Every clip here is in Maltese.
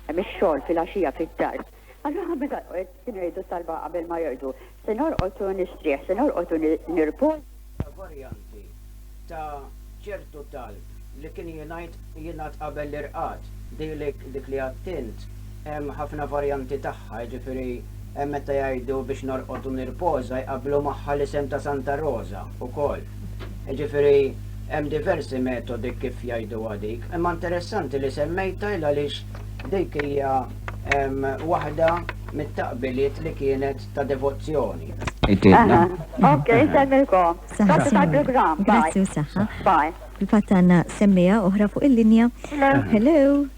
Hemm ix-xogħol filgħaxija fid-dar. Allura meta kienu jgħidu talba qabel ma jorqdu, se norqod u nistrieħ, se norqod u nirpoż. Ta' varjanti ta' ċertu talb li kien jingħid jingħad qabel l-irqad. Dilik dik li għadt int hemm ħafna varjanti tagħha, jiġifieri hemm meta jgħidu biex norqod u nirpoża jqabblu magħha l-isem ta' Santa Roża wkoll. Jiġifieri hemm diversi metodi kif jgħiduha dik, imma interessanti li semmejtha il għaliex dik hija waħda mit-taqbiliet li kienet ta' devozzjoni. Ok, semmilkom. Grazzi tal-programm. Grazzi u saħħa. Bye. Il-fatt għandna semmija oħra fuq il-linja. Hello.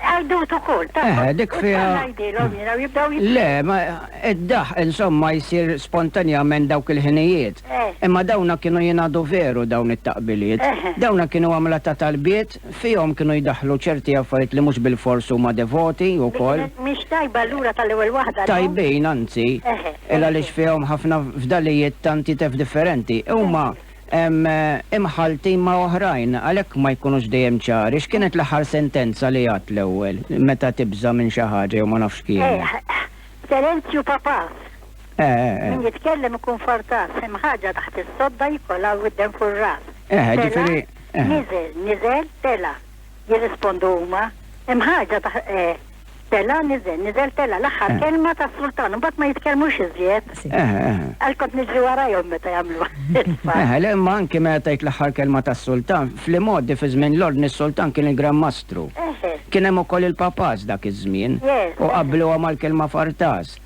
Għajdut ukoll, ta' Eħe, dik fiha. Ngħidilhom jiena u jibdew jibdew. Le, ma id-daħ insomma jsir spontanjament dawk il-ħinijiet. Eh. Imma dawna kienu jingħadu veru dawn it-taqbiliet. Eh. Dawna kienu għamla ta' talbiet, fihom kienu jdaħlu ċerti affarijiet li mhux bil-fors huma devoti wkoll. Mhix tajba lura tal-ewwel waħda. Tajbin anzi, eh. il għaliex fihom ħafna fdalijiet tanti tef differenti. Huma imħalltin ma' oħrajn, għalhekk ma jkunux dejjem ċari. X'kienet l-aħħar sentenza li għad l-ewwel, meta tibża' minn xi ħaġa jew ma nafx kienet? Terenzju Papas. Min jitkellem ikun fortas, hemm ħaġa taħt is-sodda jkollha l-widden fuq ir-ras. Tela', niżel, niżel, tela', jirrispondu huma. Hemm ħaġa taħt, Tela' niżel, niżel tela' l-aħħar eh. kelma tas-sultan, imbagħad ma jitkellmux iżjed. Eh, eh. Għal kont niġri warajhom meta jagħmlu. Eh, le imma anke meta tgħid l-aħħar kelma tas-sultan, fl-imgħoddi fi żmien l-ordni s-sultan kien il-Gran Mastru. Kien hemm ukoll il-papas dak iż-żmien u qabluha mal-kelma fartas.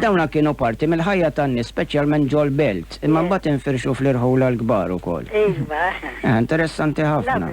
Dawna kienu parti mill-ħajja tan-nies speċjalment ġol belt, imma mbagħad infirxu fl-irħula l-kbar ukoll. Iva. Interessanti ħafna.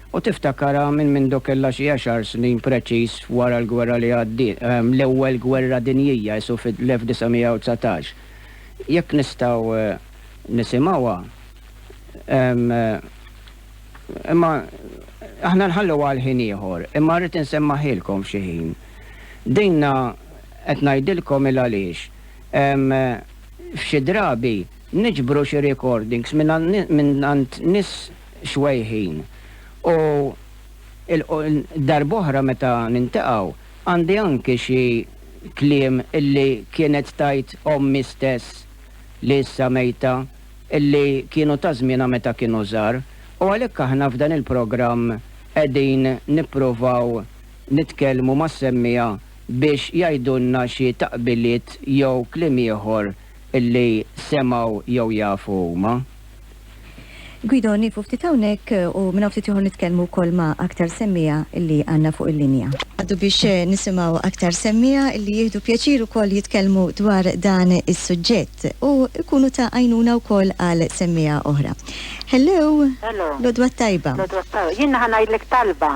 U tiftakarha minn mindu kellha xi għexar snin preċiż wara l-gwerra li għaddiet, l-Ewwel Gwerra Dinjija, isu fil-1919. Jekk nistgħu nisimgħuha, imma aħna nħalluha għal ħin ieħor, imma rrid insemmagħhilkom f'xi ħin. Dinha qed ngħidilkom il-għaliex. F'xi drabi niġbru xi recordings mingħand nies, swejħin u darb'oħra meta niltaqgħu għandi anki xi kliem illi kienet tgħid ommi stess li issa mejta illi kienu ta' żmienha meta kienu żgħar u għalhekk aħna f'dan il-programm qegħdin nippruvaw nitkellmu mas-semmiegħa biex jgħidulna xi taqbiliet jew kliem ieħor li semgħu jew jafu huma. Guido, nieqfu ftit hawnhekk u minn hawn ftit ieħor nitkellmu wkoll ma' aktar semmiegħa li għandna fuq il-linja. Ngħaddu biex nisimgħu aktar semmiegħa li jieħdu pjaċir ukoll jitkellmu dwar dan is-suġġett u jkunu ta' għajnuna wkoll għal semmiegħa oħra. Hello! Hello! L-għodwa t-tajba! L-għodwa t-tajba! Jiena ħa ngħidlek talba.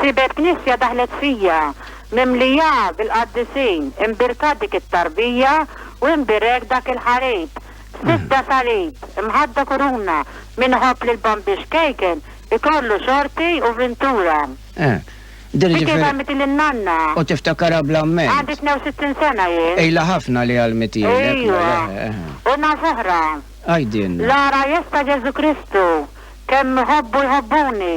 Sibet knisja daħlet fija, mimlija bil-qaddisin, imbirkat dik it-tarbija u imbierek dak il-ħarib. Sibda salib, imħadda kuruna, min iħobb lill-Bambiex Kejken ikollu xorti u vintura. Eh, dir Dik ġifieri. għalmiti lin-nanna. U tiftakarha bl-amment. Għandi 62 sena jien. Ilha ħafna li għalmitielek, mela, Ejwa. eh, eh. U naf oħra. Għidilna. L-għarajjes ta' Ġesu Kristu, kemm iħobbu jħobbuni,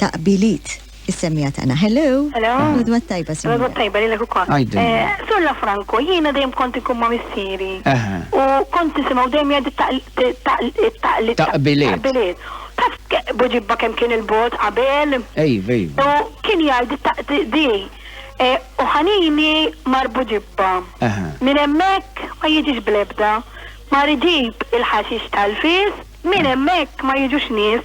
ta' qbiliet is-semmiegħa tagħna. Hello! Hello! L-għodwa t-tajba, Sinjura. L-għodwa t-tajba lilek ukoll. Għidilna. Sur La Franco, jiena dejjem kont inkun ma' missieri. Eħe. U kont nisimgħu dejjem jgħid it-taql-it-taql-it-taql-it-taql. Ta' qbiliet. Ta' qbiliet. Taf Buġibba kemm kien il-bogħod qabel? Iva, iva. U kien jgħid it-taql-it-taql di. U ħanini mar Buġibba. Eħe. Minn hemmhekk ma jiġix bl-ebda. Mar iġib il-ħaxix tal-fies, minn hemmhekk ma jiġux nies.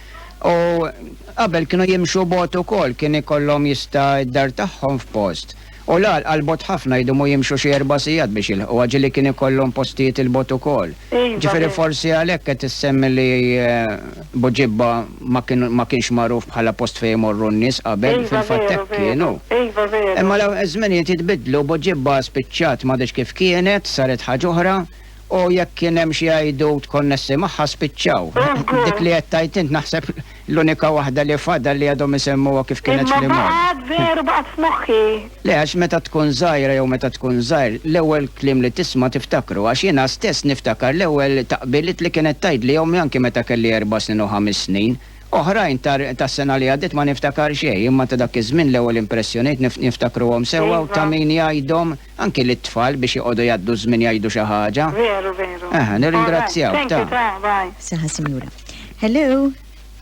U qabel kienu jimxu bogħod ukoll, kien ikollhom jista' d-dar tagħhom f'post. U l-għal għal bogħod ħafna jdumu jimxu xi erba' sigħat biex jilħquha, ġieli kien ikollhom postijiet 'il bogħod ukoll. Ġifieri forsi għalhekk qed issemmi li Buġibba ma kien ma kienx magħruf bħala post fejn imorru n-nies qabel, fil-fatt hekk kien hu. Imma l-żminijiet jitbiddlu, Buġibba spiċċat m'għadhiex kif kienet, saret ħaġa oħra. u jekk kien hemm xi għajdut konnessi magħha spiċċaw. Dik li qed tgħid int naħseb l-unika waħda li fadal li għadhom isemmuha kif kienet fl-imgħoddi. Imma baqgħet veru baqgħet f'moħħi. Le għax meta tkun żgħira jew meta tkun żgħir l-ewwel kliem li tisma' tiftakru għax jiena stess niftakar l-ewwel taqbiliet li kienet tgħidli ommi anki meta kelli erba' snin u ħames snin. Oħrajn tas-sena li għaddiet ma niftakar xejn imma ta' dak iż-żmien l-ewwel impressjonijiet niftakruhom sewwa u ta' min jgħidhom. Anki lit-tfal biex joqogħdu jgħaddu ż-żmien jgħidu xi ħaġa. Veru, veru. Aha, nirringrazzjawk, Alright, thank you, ta. ta, bye. Saħħa Sinjura. Hello!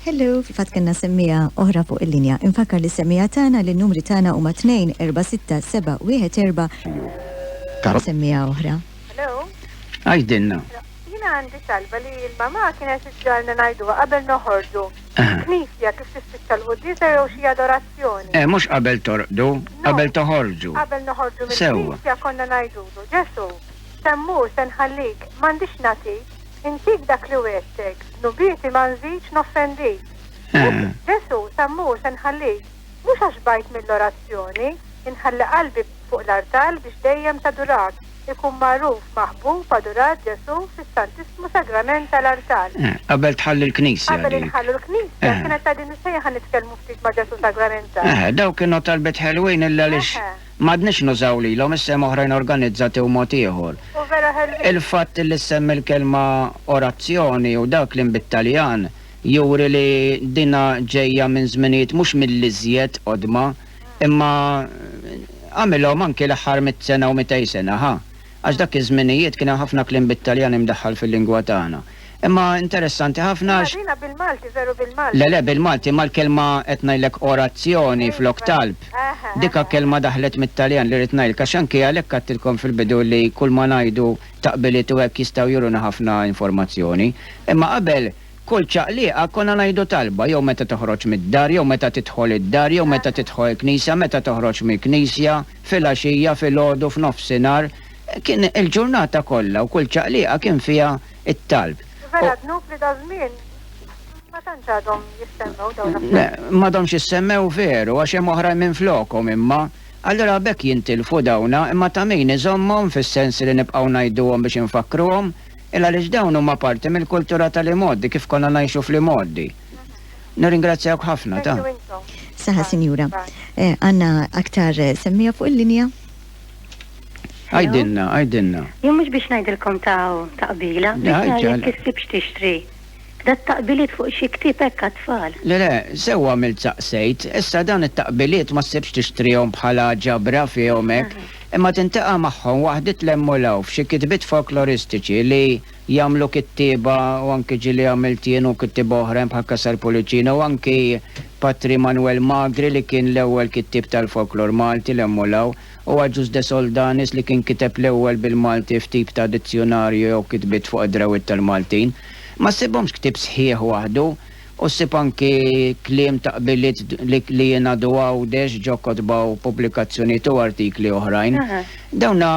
Hello! Fil-fatt kellna semmiegħa oħra fuq il-linja. Infakkar lis-semmiegħa tagħna li n-numri tagħna huma 2-4-6-7-1-4. Semmiegħa oħra. Hello? Għidilna. Jiena għandi talba li l-mamà kienet iġġalna ngħiduha qabel noħorġu. Knisja kif tispiċċa l-quddiesa jew xi adorazzjoni. Eh, mhux qabel torqdu, qabel toħorġu. Qabel noħorġu mill-knisja konna ngħidulu, Ġesu, se mmur se nħallik, m'għandix nagħtik, intik dak li wettek, nubieti ma nżidx noffendik. Eh. Ġesu, se mmur se nħallik, mhux għax bajt mill-orazzjoni, inħalli qalbi fuq l-artal biex dejjem tadurak. ikun magħruf, maħbub, adurat Ġesù fis-Santissmu Sagrament tal-artal. Eh, qabel tħalli l-Knisja. Qabel inħallu l-Knisja, eh. kienet ta' din is-sejħa nitkellmu ftit ma' Ġesù Sagramental. Eh, daw kienu talbet ħelwin illa lix madnix nużaw lilhom issem oħrajn organizzati u mod ieħor. Il-fatt li semmi l-kelma orazzjoni u dak li bit-Taljan juri li dina ġejja minn żminijiet mhux mill-iżjed qodma Imma għamilhom anki l-aħħar mitt sena u mitej sena, ħa? Għax dak iż-żminijiet kien hemm ħafna kliem bit-Taljan imdaħħal fil-lingwa tagħna. Imma interessanti ħafna għax. Imma dina bil-Malti, veru bil-Malti. Le le, bil-Malti, imma l-kelma qed ngħidlek orazzjoni flok talb. Dika kelma daħlet mit-Taljan li rrid ngħidlek għax anki għalhekk għedtilkom fil-bidu li kulma ngħidu taqbiliet u hekk jistgħu juruna ħafna informazzjoni. Imma qabel Kull ċaqliqa konna ngħidu talba, jew meta toħroġ mid-dar, jew meta tidħol id-dar, jew meta tidħol il-knisja, meta toħroġ mill-knisja, filgħaxija, filgħodu, f'nofsinhar. Kien il-ġurnata kollha u kull ċaqliqa kien fiha t-talb. Vera dnub li daż-żmien ma tantx għadhom jissemmew dawn l-affarijiet. Le, m'għadhomx jissemmew veru għax hemm oħrajn minflokhom imma. Allura b'hekk jintilfu dawna imma ta' min iżommhom fis-sens li nibqgħu ngħiduhom biex infakkruhom il għaliex dawn huma parti mill-kultura tal imgħoddi kif konna ngħixu fl imgħoddi. Nirringrazzjawk ħafna ta. Saħa sinjura. Eh, għanna aktar eh, semmija fuq il-linja? Għajdinna, għajdinna. Jien mhux biex ngħidilkom ta' taqbila, biex ngħidilkom kif tixtri. Dat-taqbiliet fuq xi ktieb hekk għat-tfal? Le le, sew għamilt saqsejt. Issa dawn it-taqbiliet ma ssibx tixtrihom bħala ġabra fihom hekk, imma tintaqa' magħhom waħdiet l-hemm u l-hawn f'xi kitbiet folkloristiċi li jagħmlu kittieba u anki ġieli għamilt jien u kittieba oħrajn bħal Casal Pullicino u anki Patri Manwel Magri li kien l-ewwel kittieb tal-folklor Malti l-hemm u l-hawn. Huwa ġust De Soldanis li kien kiteb l-ewwel bil-Malti f'tip ta' dizzjunarju jew kitbiet fuq id-drawwiet tal-Maltin. Ma ssibhomx ktieb sħiħ waħdu u ssib anki kliem ta' qbiliet li jingħadu Għawdex ġo kotba u pubblikazzjonijiet u artikli oħrajn. Dawna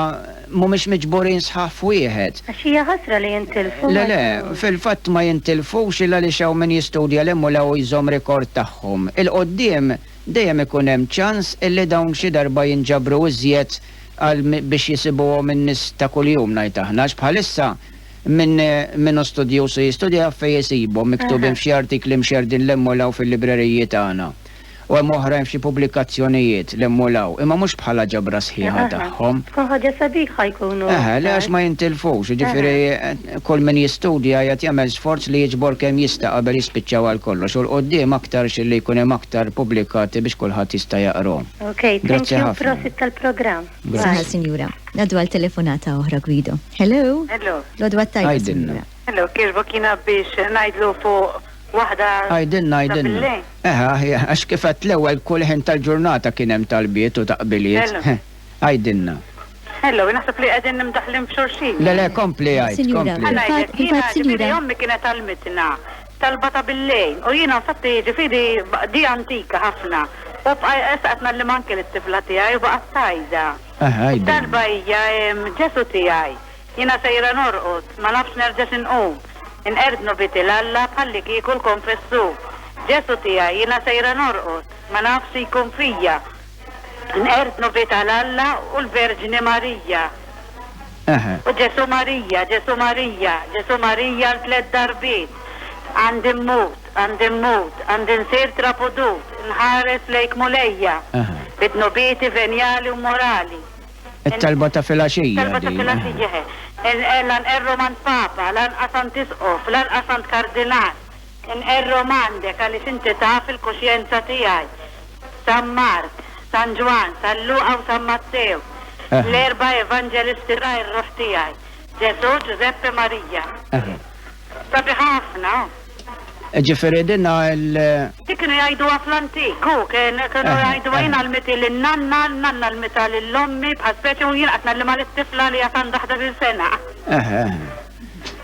mhumiex miġburin sħaħ f'wieħed. Għax hija ħasra li jintilfu. Le, le, fil-fatt ma jintilfux il għaliex hawn min jistudja 'l hemm u 'l hawn u jżomm rikord tagħhom. Il-quddiem dejjem ikun hemm ċans illi dawn xi darba jinġabru iżjed għal biex jisibuhom in-nies ta' kuljum ngħid aħna għax bħalissa min min hu studjuż u jistudja jaf fejn isibhom miktubin f'xi artikli mxerrdin l' hemm u l hawn fil-libreriji tagħna u hemm oħrajn f'xi pubblikazzjonijiet l hemm u l hawn imma mhux bħala ġabra sħiħa tagħhom. Tkun ħaġa sabiħa jkunu aktar. Eħe, le għax ma jintilfux, jiġifieri. Kull min jistudja qiegħed jagħmel sforz li jiġbor kemm jista' qabel jispiċċaw għal kollox u 'l quddiem aktarx illi jkun hemm aktar pubblikati biex kulħadd jista' jaqrhom. Ok, thank you, prosit tal-programm. Sinjal sinjura. Ngħaddu għal telefonata oħra Guido. Hello. Hello. L-għodwa t-tajba sinjura. Hello, kieġbok jiena biex ngħidlu fuq waħda. Għidilna, għidilna. Eħe, aħjar, għax kif għedt l-ewwel kull ħin tal-ġurnata kien hemm talbiet u taqbiliet. Għidilna. Hello, naħseb li qegħdin imdaħħlin f'xulxin. Le le, kompli għid. Sinjura, fil-fatt, fil-fatt, sinjura. Ommi kienet għalmitna talba ta' billejn u jiena nfatti ġifieri di antika ħafna. U bqajqes qed nallim anke lit-tifla tiegħi u baqgħet tajda. Talba hija Ġesu tiegħi. Jiena sejra norqod, ma nafx nerġax inqum. Inqerdnu biti l-Alla bħalli kieku l-konfessu. Ġesu tiegħi, jiena sejra norqod, ma nafx jkun fija. Nqerdnu bih ta' l-Alla u l-Verġni Marija. Eħe. U Ġesù Marija, Ġesù Marija, Ġesù Marija għal tliet darbiet. Għandi mmut, għandi mmut, għandi nsir trapudut, nħares lejk Mulejja. Eħe. Bi dnubieti venjali u morali. It-talba ta' filgħaxija din. It-talba ta' filgħaxija, eħe. Lanqerru m'għand Papa, lanqas għand Isqof, lanqas għand Kardinal. Inqerrhom għandek għaliex inti taf il-kuxjenza tiegħi. San Mark, San Ġwann, San Luqa u San Mattew, l-erba' Evanġelisti ta' r-ruħ tiegħi, Ġesù, Ġużeppi, Marija. Sabiħ ħafna, hu. Jiġifieri dinha l. Dik kienu jgħiduha fl-antik, hu, kienu jgħiduha jien għallmitha lin-nanna, n-nanna għallmitha lil ommi bħal speċi u jien qed ngħallimha lit-tifla li għad għandha ħdax-il sena.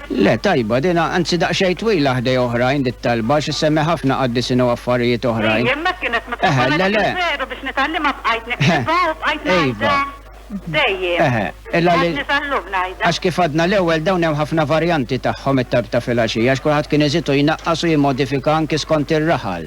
Le, tajba din, anzi daqsxejn twila ħdej oħrajn di t-talba għax issemmi ħafna qaddisin u affarijiet oħrajn. Hi, hemmhekk kienet mitluba li ngħid il-veru biex nitgħallimha bqajt niktibha u bqajt ngħidha dejjem. Eħe, illa li. Għadni sal-lum ngħidha. Għax kif għadna l-ewwel dawn hemm ħafna varjanti tagħhom it-talb ta' filgħaxija għax kulħadd kien iżid u jnaqqas u jimmodifika anki skont ir-raħal.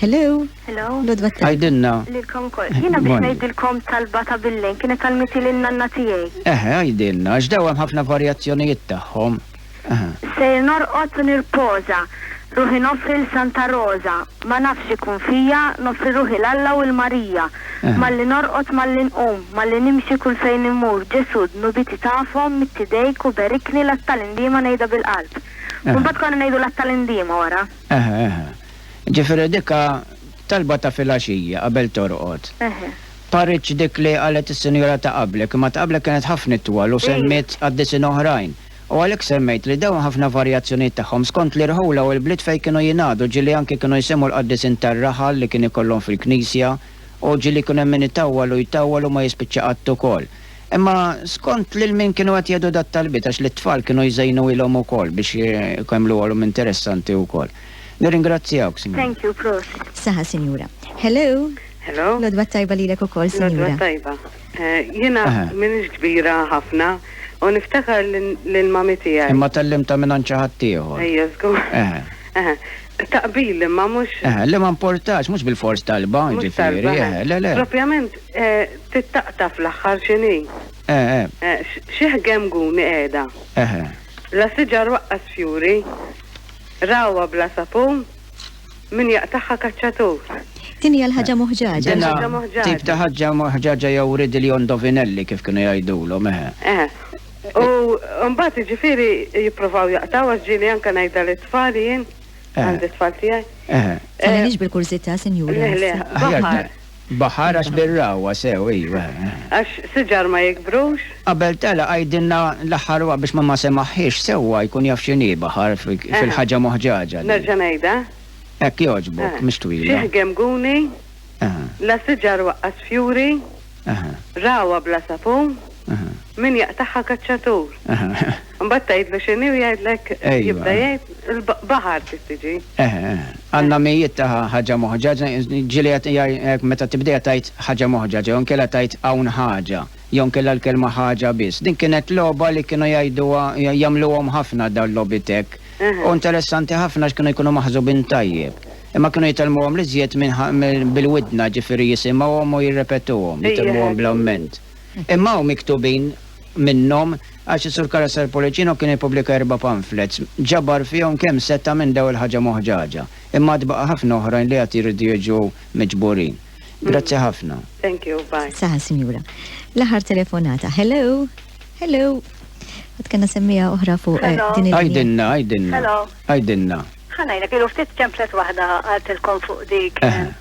Hello. Hello. Lodwa tajba. Għajdilna. Lilkom kol. Jiena biex ngħidilkom talba ta' billejn kienet talmiti lil nanna tiegħi. Eħe, għajdilna, għax daw hemm ħafna varjazzjonijiet tagħhom. Sejr norqod u nirpoża, ruħi noffri l Santa Roża, ma nafx x'ikun fija, noffri ruħi l Alla u l Marija. Malli norqod, malli nqum, malli nimxi kull fejn immur, Ġesù, dnubiti tafhom, midd idejk u berikni l-Għat tal-Indiema ngħidha bil-qalb. U mbagħad konna ngħidu l-Għat tal-Indiema wara. Eħe, eħe. Ġifieri dik ha talba ta' filgħaxija qabel torqod. Eħe. Paritx dik li qalet is-sinjura ta' qablek, imma ta' qablek kienet ħafna itwal u semmiet qaddisin oħrajn. U għalhekk semmejt li dawn ħafna varjazzjonijiet tagħhom skont l-irħula u l-bliet fejn kienu jingħadu, ġieli anki kienu jsemmu l-qaddisin tar-raħal li kien ikollhom fil-knisja u ġieli jkun hemm min itawwal u jtawwal u ma jispiċċa qatt ukoll. Imma skont lil min kienu qed jgħidu dat-talbiet għax lit-tfal kienu jżejnuilhom ukoll biex jgħmluhalhom interessanti wkoll. Nirringrazzjawk, Sinjura. Thank you, prost. Saha Sinjura. Hello. Hello. L-għodwa t-tajba lilek ukoll, Sinjura. L-għodwa t-tajba. Eh, jiena m'iniex kbira ħafna u niftakar lil mami tiegħi. Imma tallimta minn għand xi ħadd ieħor. Ejja, żgur. Taqbil imma mhux. Eh, li ma importax, mhux bil-fors talba, ġifieri, eh, le le. Propjament Tittaqta' fl-aħħar x'inhi? Eħe. Xi ħgemguni qiegħda. Eħe. La siġar waqqas fjuri. Ragħwa bla sapun. Min jaqtagħha kaċċatur. Din hija l-ħaġa moħġaġa. Din ħaġa moħġaġa. Din tip ta' ħaġa moħġaġa jew riddle jew indovinelli kif kienu jgħidulhom, eħe. Eħe. U mbagħad jiġifieri jippruvaw jaqtgħu għax ġieli anke ngħidha lit-tfal jien. Għandi t-tfal tiegħi. Eħe. Tħallilix bil-kurżità, sinjura. Le, le. Baħar. Baħar għax bir-ragħwa sew, ejwa. Għax siġar ma jikbrux. Qabel telaq għidilna l-aħħar waqt biex ma ma semaħhiex sewwa jkun jaf x'inhi baħar fil-ħaġa moħġaġa din. Nerġa' ngħidha? Hekk jogħġbok, mhix twila. Xieħ gemguni, la siġar waqqas fjuri, ragħwa bla sapun, min jaqtagħha kaċċatur. Mbagħad tgħidlu x'inhi u jgħidlek jibda jgħid il-baħar trid tiġi. Eħe, għandna mijiet ta' ħaġa moħġa, ġieli qed meta tibdejha tgħid ħaġa moħġa, jew inkella tgħid hawn ħaġa, jew inkella l-kelma ħaġa biss. Din kienet logħba li kienu jgħiduha jagħmluhom ħafna dawn l-logħbiet hekk. U interessanti ħafna għax kienu jkunu maħżubin tajjeb. Imma kienu jitgħallmuhom l-iżjed bil-widna, ġifieri jisimgħuhom u jirrepetuhom, jitgħallmuhom bl-amment. Imma hawn miktubin minnhom għax is-Sur Carasar Policino kien ippubblika erba' pamphlets, ġabar fihom kemm seta' minn daw il-ħaġa moħġaġa. Imma għad baqa' ħafna oħrajn li għad jridu jiġu miġburin. Grazzi ħafna. Thank you, bye. Saħa sinjura. L-aħħar telefonata. Hello? Hello? Għad kena semmija oħra fuq eh, din il Għajdinna, għajdinna. Għajdinna. Ħanajna, kienu ftit templet wahda għaltilkom fuq dik. Eh.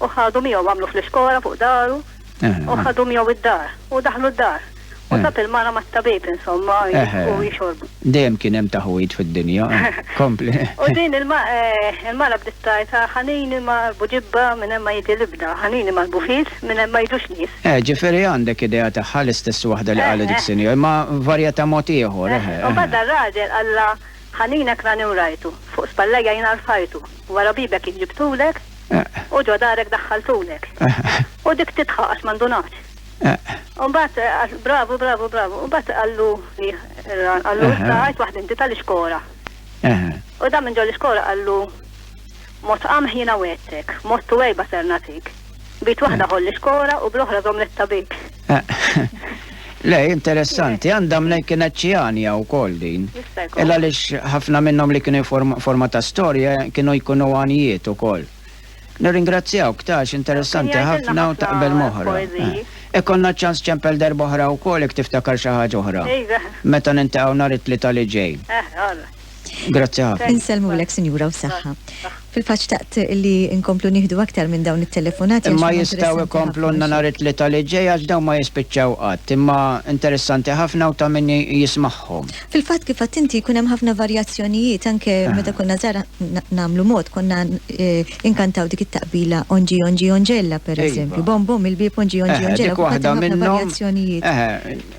U ħadu miegħu għamlu fl-iskora fuq daru. U ħadu miegħu id-dar. U daħlu d-dar. U tab il-mara mat-tabib insomma u jixorbu. Dejjem kien hemm taħwid fid-dinja. Kompli. U din il-mara bdiet tgħid ħanini ma buġibba minn hemm ma jiġi l-ibda, ħanini ma l-bufis minn hemm ma jiġux nies. Eh, ġifieri għandek idea tagħha l-istess waħda li qalet dik sinjora, imma varjata mod ieħor. U mbagħad dar-raġel qallha ħaninek rani u rajtu, fuq spallejja jiena rfajtu, wara bibek jien ġibtulek, U ġo darek daħħaltunek. U dik tidħaq għax ma ndunatx. U mbagħad bravu, bravu, bravu. U mbagħad qallu r-ran, qallu issa għajt waħd inti tal-ixkora. U dan minn ġol ixkora qallu mod qamħ jiena wettek, mod tuwejba ser natik. Bit waħda ħolli xkora u bl-oħra żomm l-tabik. Le, interessanti, għandha mnej kienet ċianja u kol din. Illa lix ħafna minnom li kienu forma ta' storja kienu jkunu għanijiet u kol. Nirringrazzjaw ktax interessanti ħafna u taqbel moħra. Ikonna eh, ċans ċempel darboħra u kol ik tiftakar xaħġa oħra. Meta nintaqaw nar it-tlita li ġej. Eh, Grazzi ħafna. Insellmulek Sinjura u saħħa. Fil-faċ taqt li nkomplu nieħdu aktar minn dawn it-telefonati. Imma jistgħu jkomplu nhar it-tlieta li ġej għax dawn ma jispiċċaw qatt, imma interessanti ħafna u ta' min jismagħhom. Fil-fatt kif qatt inti jkun hemm ħafna varjazzjonijiet anke meta konna żgħar nagħmlu mod konna inkantaw dik it-taqbila onġi onġi onġella pereżempju. Bom bom il-bieb onġi onġi onġella. Dik waħda minnhom.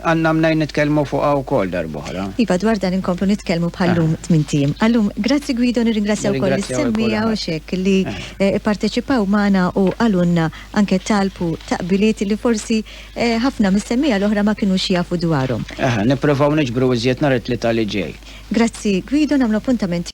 Għandna mnejn nitkellmu fuqha wkoll darb'oħra. Iva, dwar dan inkomplu nitkellmu bħal-lum tmint ijiem. Għal-lum, grazzi Guido, nirringrazzja wkoll lis-semmiegħa u xekk li pparteċipaw magħna u qalulna anke talb u taqbiliet li forsi ħafna mis-semmiegħa l-oħra ma kinux jafu dwarhom. Eħe, nippruvaw niġbru iżjed nhar it-Tlieta li ġej. Grazzi Guido, nagħmlu appuntament.